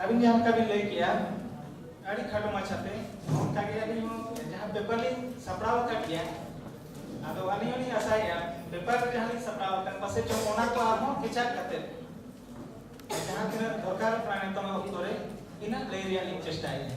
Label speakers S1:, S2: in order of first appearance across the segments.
S1: ᱟᱹᱵᱤᱱ ᱡᱟᱦᱟᱸ ᱞᱮᱠᱟ ᱵᱤᱱ ᱞᱟᱹᱭ ᱠᱮᱜᱼᱟ ᱟᱹᱰᱤ ᱠᱷᱟᱴᱚ ᱢᱟᱪᱷᱟᱛᱮ ᱚᱱᱠᱟ ᱜᱮ ᱟᱹᱞᱤᱧ ᱦᱚᱸ ᱡᱟᱦᱟᱸ ᱯᱮᱯᱟᱨ ᱞᱤᱧ ᱥᱟᱯᱲᱟᱣ ᱟᱠᱟᱫ ᱜᱮᱭᱟ ᱟᱫᱚ ᱟᱹᱞᱤᱧ ᱦᱚᱸᱞᱤᱧ ᱟᱥᱟᱭᱮᱜᱼᱟ ᱯᱮᱯᱟᱨ ᱨᱮ ᱡᱟᱦᱟᱸ ᱞᱤᱧ ᱥᱟᱯᱲᱟᱣ ᱟᱠᱟᱫ ᱯᱟᱥᱮ ᱪᱚᱝ ᱚᱱᱟ ᱠᱚ ᱟᱨᱦᱚᱸ ᱠᱮᱪᱟᱜ ᱠᱟᱛᱮ ᱡᱟᱦᱟᱸ ᱛᱤᱱᱟᱹᱜ ᱫᱚᱨᱠᱟᱨ ᱠᱟᱱᱟ ᱱᱤᱛᱚᱜ ᱚᱠᱛᱚ ᱨᱮ ᱤᱱᱟᱹᱜ ᱞᱟᱹᱭ ᱨᱮᱭᱟᱜ ᱞᱤᱧ ᱪᱮᱥᱴᱟᱭᱮᱜᱼᱟ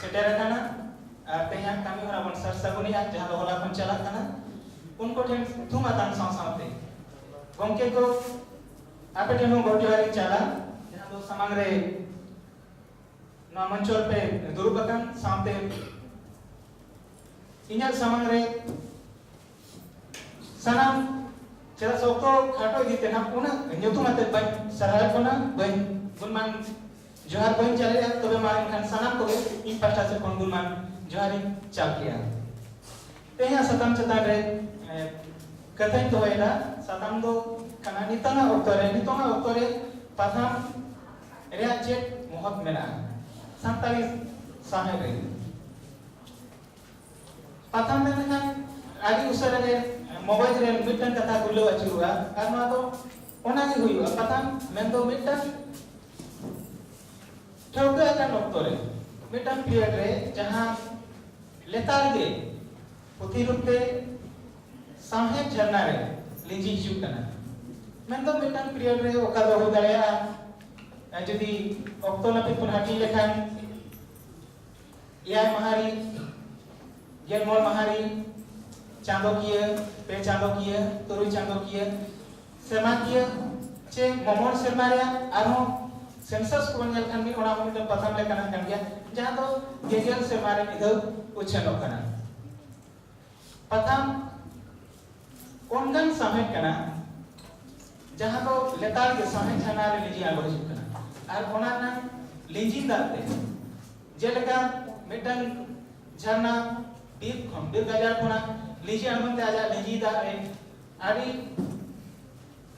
S1: ᱥᱮᱴᱮᱨ ᱟᱠᱟᱱᱟ ᱟᱨ ᱛᱮᱦᱮᱧᱟᱜ ᱠᱟᱹᱢᱤ ᱦᱚᱨᱟ ᱵᱚᱱ ᱥᱟᱨ ᱥᱟᱹᱜᱩᱱᱮᱜᱼᱟ ᱡᱟᱦᱟᱸ ᱫᱚ ᱦᱚᱞᱟ ᱠᱷᱚᱱ ᱪᱟᱞᱟᱜ ᱠᱟᱱᱟ ᱩᱱᱠᱩ ᱴᱷᱮᱱ ᱛᱷᱩᱢ ᱟᱛᱟᱝ ᱥᱟᱶ ᱥᱟᱶᱛᱮ ᱜᱚᱢᱠᱮ ᱠᱚ ᱟᱯᱮ ᱴᱷᱮᱱ ᱦᱚᱸ ᱜᱚᱰ ᱡᱚᱦᱟᱨ ᱤᱧ ᱪᱟᱞᱟ ᱡᱟᱦᱟᱸ ᱫᱚ ᱥᱟᱢᱟᱝ ᱨᱮ ᱱᱚᱣᱟ ᱢᱚᱧᱪᱚ ᱨᱮᱯᱮ ᱫᱩᱲᱩᱵ ᱟᱠᱟᱱ ᱥᱟᱶᱛᱮ ᱤᱧᱟᱹᱜ ᱥᱟᱢᱟᱝ ᱨᱮ ᱥᱟᱱᱟᱢ ᱪᱮᱫᱟᱜ ᱥᱮ ᱚᱠᱛᱚ ᱠᱷᱟᱴᱚ ᱤᱫᱤ ᱛᱮ ᱱᱟᱜ ᱩᱱᱟᱹᱜ ᱧᱩᱛᱩᱢ ᱟᱛᱮ ᱵᱟᱹᱧ ᱥᱟᱨᱦᱟᱣᱮᱫ ᱵᱚᱱᱟ ᱵᱟᱹᱧ ᱜᱩᱱᱢᱟᱱ ᱡᱚᱦᱟᱨ ᱵᱟᱹᱧ ᱪᱟᱞᱮᱫᱼᱟ ᱛᱚᱵᱮ ᱢᱟ ᱮᱱᱠᱷᱟᱱ ᱥᱟᱱᱟᱢ ᱠᱚᱜᱮ ᱤᱧ ᱯᱟᱥᱴᱟ ᱥᱮᱫ ᱠᱷᱚᱱ ᱜᱩᱱᱢᱟᱱ ᱡᱚᱦᱟᱨᱤᱧ ᱪᱟᱞ ᱠᱮᱜᱼᱟ ᱛᱮᱦᱮᱧᱟᱜ ᱥᱟᱛᱟᱢ ᱪᱮᱛᱟᱱ ᱨᱮ ᱠᱟᱛᱷᱟᱧ ᱫᱚᱦᱚᱭᱮᱫᱟ ᱥᱟᱛᱟᱢ ᱫᱚ ᱠᱟᱱᱟ ᱱᱤᱛᱚᱜᱟᱜ ᱚᱠᱛᱚ ᱨᱮ ᱱᱤᱛᱚᱜᱟᱜ ᱚᱠᱛᱚ ᱨᱮ ᱯᱟᱛᱷᱟᱢ ᱨᱮᱭᱟᱜ ᱪᱮᱫ ᱢᱚᱦᱚᱛ ᱢᱮᱱᱟᱜᱼᱟ ᱥᱟᱱᱛᱟᱲᱤ ᱥᱟᱶᱦᱮᱫ ᱨᱮ ᱯᱟᱛᱷᱟᱢ ᱢᱮᱱ ᱞᱮᱠᱷᱟᱱ ᱟᱹᱰᱤ ᱩᱥᱟᱹᱨᱟ ᱜᱮ ᱢᱚᱜᱚᱡᱽ ᱨᱮ ᱢᱤᱫᱴᱟᱝ ᱠᱟᱛᱷᱟ ᱜᱩᱞᱟᱹᱣ ᱟᱹᱪᱩᱨᱚᱜᱼᱟ ᱟᱨ ᱱᱚᱣᱟ ᱫᱚ ᱚᱱᱟ ᱜᱮ ᱦᱩᱭᱩᱜᱼᱟ ᱯᱟᱛᱷᱟᱢ ᱢᱮᱱ ᱫᱚ ᱢᱤᱫᱴᱟᱝ ᱴᱷᱟᱹᱣᱠᱟᱹ ᱟᱠᱟᱱ ᱚᱠᱛᱚ ᱨᱮ ᱢᱤᱫᱴᱟᱝ ᱯᱤᱨᱤᱭᱚᱰ ᱨᱮ ᱡᱟᱦᱟᱸ ᱞᱮᱛᱟᱲ ᱜᱮ ᱯᱩᱛᱷᱤ ᱨᱩᱯ ᱛᱮ ᱥᱟᱶᱦᱮᱫ ᱡᱷᱟᱨᱱᱟ ᱨᱮ ᱞᱤᱸᱡᱤ ᱦᱤᱡᱩᱜ ᱠᱟᱱᱟ ᱢᱮᱱ ᱫᱚ ᱢᱤᱫᱴᱟᱝ ᱯᱤᱨᱤᱭᱚᱰ ᱨᱮ ᱚᱠᱟ ᱫᱚ ᱦᱩᱭ ᱫᱟᱲᱮᱭᱟᱜᱼᱟ ᱡᱩᱫᱤ ᱚᱠᱛᱚ ᱱᱟᱹᱯᱤᱛ ᱵᱚᱱ ᱦᱟᱹᱴᱤᱧ ᱞᱮᱠᱷᱟᱱ ᱮᱭᱟᱭ ᱢᱟᱦᱟ ᱨᱮ ᱜᱮᱞ ᱢᱚᱬ ᱢᱟᱦᱟ ᱨᱮ ᱪᱟᱸᱫᱚᱠᱤᱭᱟᱹ ᱯᱮ ᱪᱟᱸᱫᱚᱠᱤᱭᱟᱹ ᱛᱩᱨᱩᱭ ᱪᱟᱸᱫᱚᱠᱤᱭᱟᱹ ᱥᱮᱨᱢᱟᱠᱤᱭᱟᱹ ᱪᱮ ᱢᱚᱢᱚᱬ ᱥᱮᱨᱢᱟ ᱨᱮᱭᱟᱜ ᱟᱨᱦᱚᱸ ᱥᱮᱱᱥᱟᱥ ᱠᱚᱵᱚᱱ ᱧᱮᱞ ᱠᱷᱟᱱ ᱢᱤᱫ ᱚᱱᱟ ᱦᱚᱸ ᱢᱤᱫᱴᱟᱝ ᱯᱟᱛᱷᱟᱢ ᱞᱮᱠᱟᱱᱟᱜ ᱠᱟᱱ ᱜᱮᱭᱟ ᱡᱟᱦᱟᱸ ᱫᱚ ᱜᱮᱜᱮᱞ ᱥᱮᱨᱢᱟ ᱨᱮ ᱢᱤᱫ ᱫᱷᱟᱣ ᱩᱪᱷᱟᱹᱱᱚᱜ ᱠᱟᱱᱟ ᱯᱟᱛᱷᱟᱢ ᱚᱱᱠᱟᱱ ᱥᱟᱶᱦᱮᱫ ᱠᱟᱱᱟ ᱡᱟᱦᱟᱸ ᱫᱚ ᱞᱮᱛᱟᱲ ᱜᱮ ᱥᱟᱶᱦᱮᱫ ᱪᱷᱟᱱᱟ ᱨᱮ ᱞᱤᱸᱡᱤ ᱟᱬᱜᱚ ᱦᱤᱡᱩᱜ ᱠᱟᱱᱟ ᱟᱨ ᱚᱱᱟ ᱨᱮᱱᱟᱜ ᱞᱤᱸᱡᱤᱱ ᱫᱟᱜ ᱛᱮ ᱡᱮᱞᱮᱠᱟ ᱢᱤᱫᱴᱟᱝ ᱡᱷᱟᱨᱱᱟ ᱵᱤᱨ ᱠᱷᱚᱱ ᱵᱤᱨ ᱜᱟᱡᱟᱲ ᱠᱷᱚᱱᱟᱜ ᱞᱤᱸᱡᱤ ᱟᱬᱜᱚᱱ ᱛᱮ ᱟᱡᱟᱜ ᱞᱤᱸᱡᱤ ᱫᱟᱜ ᱨᱮ ᱟᱹᱰᱤ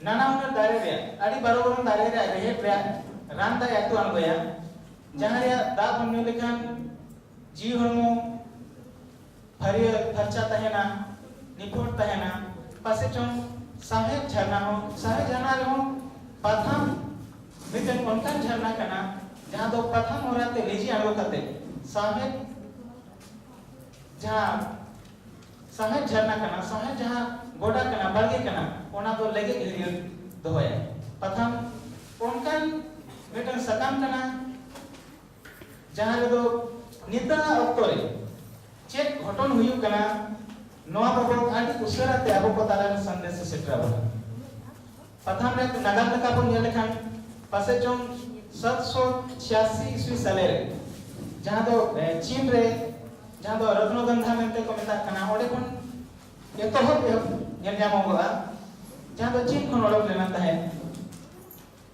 S1: ᱱᱟᱱᱟ ᱦᱩᱱᱟᱹᱨ ᱫᱟᱨᱮ ᱨᱮᱭᱟᱜ ᱟᱹᱰᱤ ᱵᱟᱨᱚ ᱵᱚᱨᱚᱱ ᱫᱟᱨᱮ ᱨᱮᱭᱟᱜ ᱨᱮᱦᱮᱫ ᱨᱮᱭᱟᱜ ᱨᱟᱱ ᱫᱟᱜ ᱟᱹᱛᱩ ᱟᱬᱜᱚᱭᱟ ᱡᱟᱦᱟᱸ ᱨᱮᱭᱟᱜ ᱫᱟᱜ ᱵᱚᱱ ᱧᱩ ᱞᱮᱠᱷᱟᱱ ᱡᱤᱣᱤ ᱦᱚᱲᱢᱚ ᱯᱷᱟᱹᱨᱭᱟᱹ ᱯᱷᱟᱨᱪᱟ ᱛᱟᱦᱮᱱᱟ, ᱱᱤᱯᱷᱩᱴ ᱛᱟᱦᱮᱱᱟ᱾ ᱯᱟᱥᱮ ᱪᱚᱝ ᱥᱟᱶᱦᱮᱫ ᱡᱷᱟᱨᱱᱟ ᱦᱚᱸ ᱥᱟᱶᱦᱮᱫ ᱡᱷᱟᱨᱱᱟ ᱨᱮᱦᱚᱸ ᱯᱟᱛᱷᱟᱢ ᱢᱤᱫᱴᱟᱹᱝ ᱚᱱᱠᱟᱱ ᱡᱷᱟᱨᱱᱟ ᱠᱟᱱᱟ ᱡᱟᱦᱟᱸ ᱫᱚ ᱯᱟᱛᱷᱟᱢ ᱦᱚᱨᱟ ᱛᱮ ᱞᱤᱸᱡᱤ ᱟᱬᱜᱚ ᱠᱟᱛᱮ ᱥᱟᱶᱦᱮᱫ ᱡᱟᱦᱟᱸ ᱥᱟᱶᱦᱮᱫ ᱡᱷᱟᱨᱱᱟ ᱠᱟᱱᱟ, ᱥᱟᱶᱦᱮᱫ ᱡᱟᱦᱟᱸ ᱜᱚᱰᱟ ᱠᱟᱱᱟ, ᱵᱟᱲᱜᱮ ᱠᱟᱱᱟ, ᱚᱱᱟ ᱫᱚ ᱞᱮᱜᱮᱡ ᱦᱟᱹᱨᱭᱟᱹᱲ ᱫᱚᱦᱚᱭᱟ᱾ ᱯᱟᱛᱷᱟᱢ ᱚᱱᱠᱟᱱ ᱢᱤᱫᱴᱟᱹᱝ ᱥᱟᱠᱟᱢ ᱠᱟᱱᱟ᱾ ᱡᱟᱦᱟᱸ ᱨᱮᱫᱚ ᱱᱤᱛᱟᱜ ᱚᱠᱛᱚ ᱨᱮ ᱪᱮᱫ ᱜᱷᱚᱴᱚᱱ ᱦᱩᱭᱩᱜ ᱠᱟᱱᱟ ᱱᱚᱣᱟ ᱵᱟᱵᱚᱫ ᱟᱹᱰᱤ ᱩᱥᱟᱹᱨᱟ ᱛᱮ ᱟᱵᱚ ᱠᱚ ᱛᱟᱞᱟ ᱨᱮ ᱥᱟᱸᱫᱮᱥ ᱮ ᱥᱮᱴᱮᱨ ᱟᱵᱚᱱᱟ ᱯᱟᱛᱷᱟᱢ ᱨᱮ ᱱᱟᱜᱟᱢ ᱞᱮᱠᱟ ᱵᱚᱱ ᱧᱮᱞ ᱞᱮᱠᱷᱟᱱ ᱯᱟᱥᱮ ᱪᱚᱝ ᱥᱟᱛᱥᱚ ᱪᱷᱤᱭᱟᱥᱤ ᱤᱥᱣᱤ ᱥᱟᱞᱮ ᱨᱮ ᱡᱟᱦᱟᱸ ᱫᱚ ᱪᱤᱱ ᱨᱮ ᱡᱟᱦᱟᱸ ᱫᱚ ᱨᱚᱛᱱᱚᱜᱚᱱᱫᱷᱟ ᱢᱮᱱᱛᱮ ᱠᱚ ᱢᱮᱛᱟᱜ ᱠᱟᱱᱟ ᱚᱸᱰᱮ ᱠᱷᱚᱱ ᱮᱛᱚᱦᱚᱵ ᱮᱦᱚᱵ ᱧᱮᱞ ᱧᱟᱢᱚᱜᱚᱜᱼᱟ ᱡᱟᱦᱟᱸ ᱫᱚ ᱪᱤᱱ ᱠᱷᱚᱱ ᱚᱰᱚᱠ ᱞᱮᱱᱟ ᱛᱟᱦᱮᱸᱫ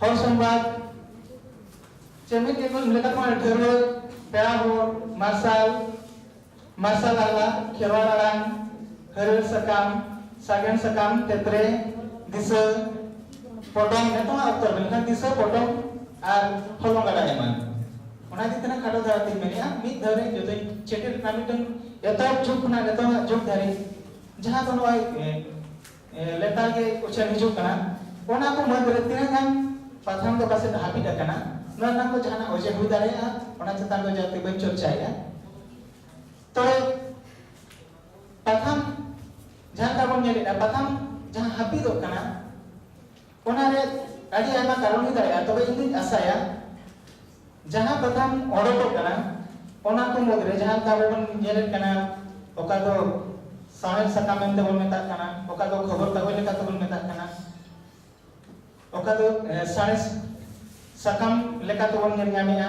S1: ᱦᱚᱲ ᱥᱚᱢᱵᱟᱫ ᱪᱮᱢᱤᱛ ᱜᱮᱠᱚ ᱞᱮᱠᱟ ᱠᱚ ᱰᱷᱮᱨᱚ ᱯᱮᱲᱟ ᱦᱚᱲ ᱢᱟᱨᱥᱟᱞ ᱢᱟᱨᱥᱟᱞ ᱟᱞᱟ ᱠᱷᱮᱨᱣᱟᱲ ᱟᱲᱟᱝ ᱦᱟᱹᱨᱭᱟᱹᱲ ᱥᱟᱠᱟᱢ ᱥᱟᱜᱮᱱ ᱥᱟᱠᱟᱢ ᱛᱮᱛᱨᱮ ᱫᱤᱥᱟᱹ ᱯᱚᱴᱚᱢ ᱱᱤᱛᱚᱜ ᱚᱠᱛᱚ ᱢᱮᱱᱠᱷᱟᱱ ᱫᱤᱥᱟᱹ ᱯᱚᱴᱚᱢ ᱟᱨ ᱦᱚᱞᱚᱝ ᱜᱟᱰᱟ ᱮᱢᱟᱱ ᱚᱱᱟ ᱤᱫᱤ ᱛᱮᱱᱟᱜ ᱠᱷᱟᱴᱚ ᱫᱷᱟᱨᱟ ᱛᱤᱧ ᱢᱮᱱᱮᱜᱼᱟ ᱢᱤᱫ ᱫᱷᱟᱣ ᱨᱮ ᱡᱚᱛᱚᱧ ᱪᱮᱴᱮᱨ ᱠᱟᱱᱟ ᱢᱤᱫᱴᱟᱝ ᱮᱛᱚᱦᱚᱵ ᱡᱩᱜᱽ ᱠᱷᱚᱱᱟᱜ ᱱᱤᱛᱚᱜ ᱡᱩᱜᱽ ᱫᱷᱟᱹᱨᱤᱡ ᱡᱟᱦᱟᱸ ᱫᱚ ᱱᱚᱜᱼᱚᱭ ᱞᱮᱛᱟᱲ ᱜᱮ ᱩᱪᱷᱟᱹᱱ ᱦᱤᱡᱩᱜ ᱠᱟᱱᱟ ᱚᱱᱟ ᱠᱚ ᱢᱩᱫᱽ ᱨᱮ ᱛᱤᱱᱟᱹᱜ ᱜᱟᱱ ᱯᱟᱛᱷᱟᱢ ᱫᱚ ᱯᱟᱥᱮᱡ ᱦᱟᱹᱯᱤᱫ ᱟᱠᱟᱱᱟ ᱱᱚᱣᱟ ᱨᱮᱱᱟᱜ ᱫᱚ ᱡᱟᱦᱟᱱᱟᱜ ᱚᱡᱮ ᱦᱩᱭ ᱫᱟᱲᱮᱭᱟᱜᱼᱟ ᱚᱱᱟ ᱪᱮᱛᱟᱱ ᱫᱚ ᱡᱟᱹᱥᱛᱤ ᱵᱟᱹᱧ ᱪᱚᱨᱪᱟᱭᱮᱫᱼᱟ ᱛᱚ ᱯᱟᱛᱷᱟᱢ ᱡᱟᱦᱟᱸ ᱞᱮᱠᱟ ᱵᱚᱱ ᱧᱮᱞᱮᱫᱼᱟ ᱯᱟᱛᱷᱟᱢ ᱡᱟᱦᱟᱸ ᱦᱟᱹᱯᱤᱫᱚᱜ ᱠᱟᱱᱟ ᱚᱱᱟ ᱨᱮ ᱟᱹᱰᱤ ᱟᱭᱢᱟ ᱠᱟᱨᱚᱱ ᱦᱩᱭ ᱫᱟᱲᱮᱭᱟᱜᱼᱟ ᱛᱚᱵᱮ ᱤᱧ ᱫᱩᱧ ᱟᱥᱟᱭᱟ ᱡᱟᱦᱟᱸ ᱠᱟᱛᱷᱟᱢ ᱚᱰᱚᱠᱚᱜ ᱠᱟᱱᱟ ᱚᱱᱟ ᱠᱚ ᱢᱩᱫᱽᱨᱮ ᱡᱟᱦᱟᱸ ᱞᱮᱠᱟ ᱟᱵᱚ ᱵᱚᱱ ᱧᱮᱞᱮᱫ ᱠᱟᱱᱟ ᱚᱠᱟ ᱫᱚ ᱥᱟᱶᱦᱮᱫ ᱥᱟᱠᱟᱢ ᱢᱮᱱᱛᱮ ᱵᱚᱱ ᱢᱮᱛᱟᱜ ᱠᱟᱱᱟ ᱚᱠᱟ ᱫᱚ ᱠᱷᱚᱵᱚᱨ ᱠᱟᱜᱚᱡᱽ ᱞᱮᱠᱟ ᱛᱮᱵᱚᱱ ᱢᱮᱛᱟᱜ ᱠᱟᱱᱟ ᱚᱠᱟ ᱫᱚ ᱥᱟᱬᱮᱥ ᱥᱟᱠᱟᱢ ᱞᱮᱠᱟ ᱛᱮᱵᱚᱱ ᱧᱮᱞ ᱧᱟᱢᱮᱫᱼᱟ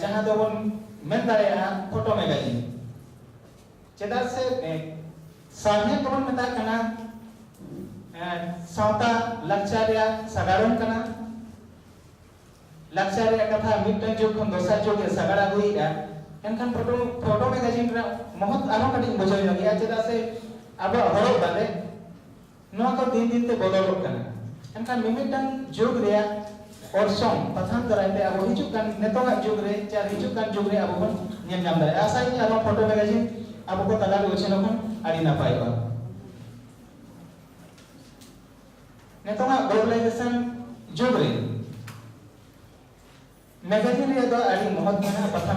S1: ᱡᱟᱦᱟᱸ ᱫᱚᱵᱚᱱ ᱢᱮᱱ ᱫᱟᱲᱮᱭᱟᱜᱼᱟ ᱯᱷᱳᱴᱳ ᱢᱮᱜᱟᱡᱤᱱ ᱪᱮᱫᱟᱜ ᱥᱮ ᱥᱟᱶᱦᱮᱫ ᱫᱚᱵᱚᱱ ᱢᱮᱛᱟᱜ ᱠᱟᱱᱟ ᱥᱟᱶᱛᱟ ᱞᱟᱠᱪᱟᱨ ᱨᱮᱭᱟᱜ ᱥᱟᱜᱟᱲᱚᱢ ᱠᱟᱱᱟ ᱞᱟᱠᱪᱟᱨ ᱨᱮᱭᱟᱜ ᱠᱟᱛᱷᱟ ᱢᱤᱫᱴᱟᱝ ᱡᱩᱜᱽ ᱠᱷᱚᱱ ᱫᱚᱥᱟᱨ ᱡᱩᱜᱽ ᱮ ᱥᱟᱜᱟᱲ ᱟᱹᱜᱩᱭᱮᱫᱼᱟ ᱮᱱᱠᱷᱟᱱ ᱯᱷᱳᱴᱳ ᱯᱷᱳᱴᱳ ᱢᱮᱜᱟᱡᱤᱱ ᱨᱮᱱᱟᱜ ᱢᱚᱦᱚᱛ ᱟᱨᱦᱚᱸ ᱠᱟᱹᱴᱤᱡ ᱵᱩᱡᱷᱟᱹᱣ ᱧᱚᱜᱮᱜᱼᱟ ᱪᱮᱫᱟᱜ ᱥᱮ ᱟᱵᱚᱣᱟᱜ ᱦᱚᱨᱚᱜ ᱵᱟᱸᱫᱮ ᱱᱚᱣᱟ ᱠᱚ ᱫᱤᱱ ᱫᱤᱱ ᱛᱮ ᱵᱚᱫᱚᱞᱚᱜ ᱠᱟᱱᱟ ᱮᱱᱠᱷᱟᱱ ᱢᱤᱢᱤᱫᱴᱟᱝ ᱡᱩᱜᱽ ᱨᱮᱭᱟᱜ ᱚᱨᱥᱚᱝ ᱯᱟᱛᱷᱟᱢ ᱫᱟᱨᱟᱭ ᱛᱮ ᱟᱵᱚ ᱦᱤᱡᱩᱜ ᱠᱟᱱ ᱱᱤᱛᱚᱜᱟᱜ ᱡᱩᱜᱽ ᱨᱮ ᱪᱮ ᱦᱤᱡᱩᱜ ᱠᱟᱱ ᱡᱩᱜᱽ ᱨᱮ ᱟᱵᱚ ᱵᱚᱱ ᱧᱮᱞ ᱧᱟᱢ ᱫᱟᱲᱮᱭᱟᱜᱼᱟ ᱟᱥᱟᱭᱟᱹᱧ ᱟᱨ ᱱᱚᱣᱟ ᱯᱷᱳᱴᱳ ᱢᱮᱜᱟᱡᱤᱱ ᱟᱵᱚ ᱠᱚ ᱛᱟᱞᱟ ᱨᱮ ᱩᱪᱷᱟᱹᱱᱚᱜ ᱠᱷᱟᱱ ᱟᱹᱰᱤ ᱱᱟᱯᱟᱭᱚᱜᱼᱟ ᱱᱤᱛᱚᱜᱟᱜ ᱜᱞᱳᱵᱟᱞᱟᱭᱡᱮᱥᱚᱱ ᱡᱩᱜᱽ ᱨᱮ ᱢᱮᱜᱟᱡᱤᱱ ᱨᱮᱭᱟᱜ ᱫᱚ ᱟᱹᱰᱤ ᱢᱚᱦᱚᱛ ᱢᱮᱱᱟᱜᱼᱟ ᱯᱟᱛᱷᱟᱢ